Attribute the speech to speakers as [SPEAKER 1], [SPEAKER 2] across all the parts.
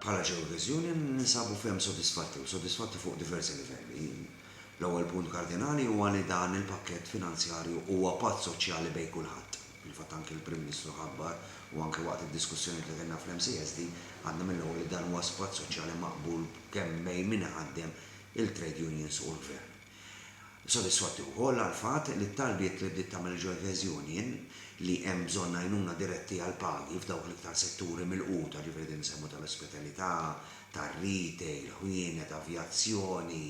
[SPEAKER 1] Bħala Jehovah's Union ninsabu ferm sodisfatti u sodisfatti fuq diversi livelli. L-ewwel punt kardinali huwa li dan il-pakkett finanzjarju huwa patt soċjali bejn kulħadd. Fil-fatt anki l-Prim Ministru ħabbar, u anki waqt id-diskussjonijiet li kellna fl-MCSD, għadna mill-ewwel li dan huwa s-patt soċjali maqbul kemm bejn min iħaddem, il-trade unions u l-Gvern. Sodisfatti wkoll għall-fatt li t-talbiet li bdiet tagħmel il-Jueves Union, li hemm bżonn għajnuna diretti għall-pagi f'dawk l-iktar setturi milquta, ġifieri din insemmu tal-ospitalità, tar-retail, ħwienet, avjazzjoni,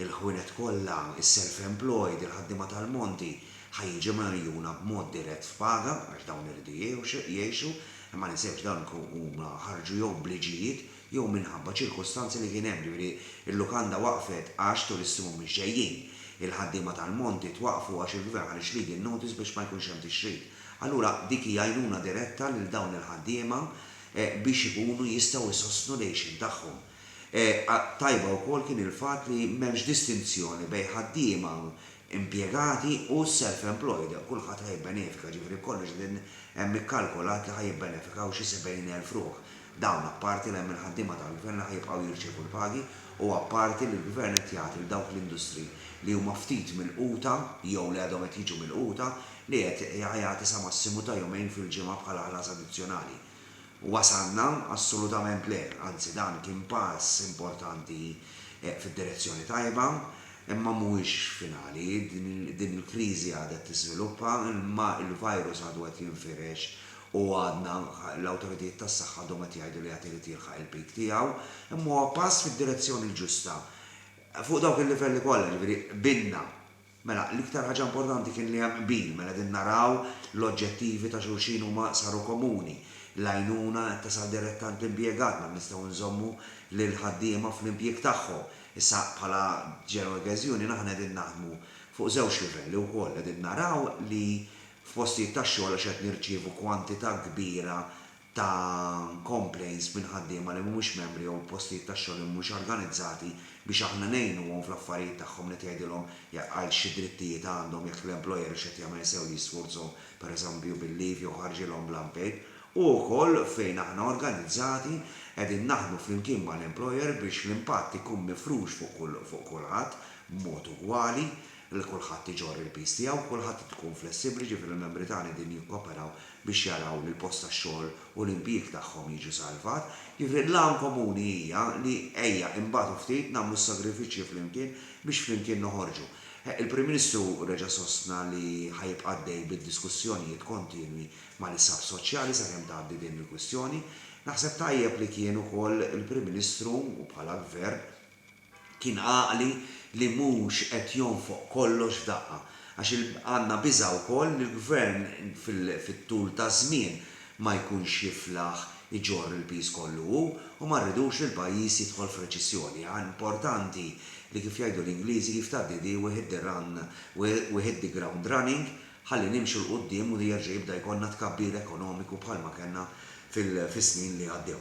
[SPEAKER 1] il-ħwienet kollha, is-self-employed, il-ħaddiema tal-monti, ħa jiġu mgħejjuna b'mod dirett f'paga, għax dawn iridu jgħixu, imma ma ninsewx dan huma ħarġu jew b'liġijiet jew minħabba ċirkustanzi li kien hemm, jiġifieri l-lukanda waqfet għax turisti mhumiex ġejjin, il-ħaddiema tal-monti twaqqfu għax il-gvern ħa l-ixleading notice biex ma jkunx hemm tixrid. Allura dik hi għajnuna diretta lil dawn il-ħaddiema biex ikunu jistgħu jsostnu l-għixien tagħhom. Tajba wkoll kien il-fatt li m'hemmx distinzjoni bejn ħaddiema impjegati u self-employed, kulħadd ħa jibbenefika, jiġifieri kollox qegħdin hemm ikkalkulat li ħa jibbenefikaw xi 70,000 ruħ. Dawn apparti li hemm il-ħaddiema tal-Gvern li ħa jibqgħu jirċievu l-pagi u apparti li l-Gvern qed jagħti lil dawk l-industri li huma ftit milquta jew li għadhom qed jiġu milquta li qed jagħti sa massimu ta' jumejn fil-ġimgħa bħala ħlas addizzjonali. Wasalna? Assolutament le, anzi dan kien pass importanti fid-direzzjoni tajba, imma mhuwiex finali. Din il-kriżi għadha qed tiżviluppa, il-virus għadu qed jinfirex u għadna, l-awtoritajiet tas-saħħa għadhom qed jgħidu li għad irid jilħaq il-peak tiegħu, imma huwa pass fid-direzzjoni l-ġusta fuq dawk il-livelli kollha, jiġifieri qbilna. Mela, l-iktar ħaġa importanti kien li hemm qbil, mela qegħdin naraw l-oġġettivi ta' xulxin huma saru komuni, l-għajnuna qed tasal diretta għand l-impjegat, mela nistgħu nżommu lill-ħaddiema fl-impjieg tagħhom. Issa, bħala General Gas Union aħna qegħdin naħdmu fuq żewġ livelli wkoll, qegħdin naraw li f'postijiet tax-xogħol għax qed nirċievu kwantità kbira ta' complaints minn ħaddiema li mhumiex membri jew postijiet tax-xogħol li mhumiex organizzati biex aħna ngħinuhom fl-affarijiet tagħhom li qed jgħidilhom għal xi drittijiet għandhom jekk l-employer hux qed jagħmel sew li jisfurzhom pereżempju bil-leave jew ħarġilhom bl-unpaid u wkoll fejn aħna organizzati qegħdin naħdmu flimkien mal-employer biex l-impatt ikun mifrux fuq kulħadd b'mod ugwali li kulħadd iġorr il-piż tiegħu, kulħadd irid ikun flessibbli, jiġifieri l-membri tagħna qegħdin jikkoperaw biex jaraw li l-post tax-xogħol u l-impjieg tagħhom jiġu salvat. Jiġifieri l-għan komuni hija li ejja inbatu ftit, nagħmlu s-sagrifiċċji flimkien biex flimkien noħorġu. Il-Prim Ministru reġa' sostna li ħa jibqa' għaddej bid-diskussjonijiet kontinwi mal-isħab soċjali sakemm tgħaddi din il-kwistjoni. Naħseb tajjeb li kien ukoll il-Prim Ministru u bħala Gvern, Kien għaqli li mhux qed jonfoq kollox f'daqqa, għax għandna biża' wkoll li l-Gvern fit-tul taż-żmien ma jkunx jiflaħ iġorr il-piż kollu hu u ma rridux li l-pajjiż jidħol f'reċissjoni. Importanti li kif jgħidu l-Ingliżi if ta' didi we hit the run we hit the ground running ħalli nimxu 'l quddiem u jerġa' jibda jkollna tkabbir ekonomiku bħalma kellna fis-snin li għaddew.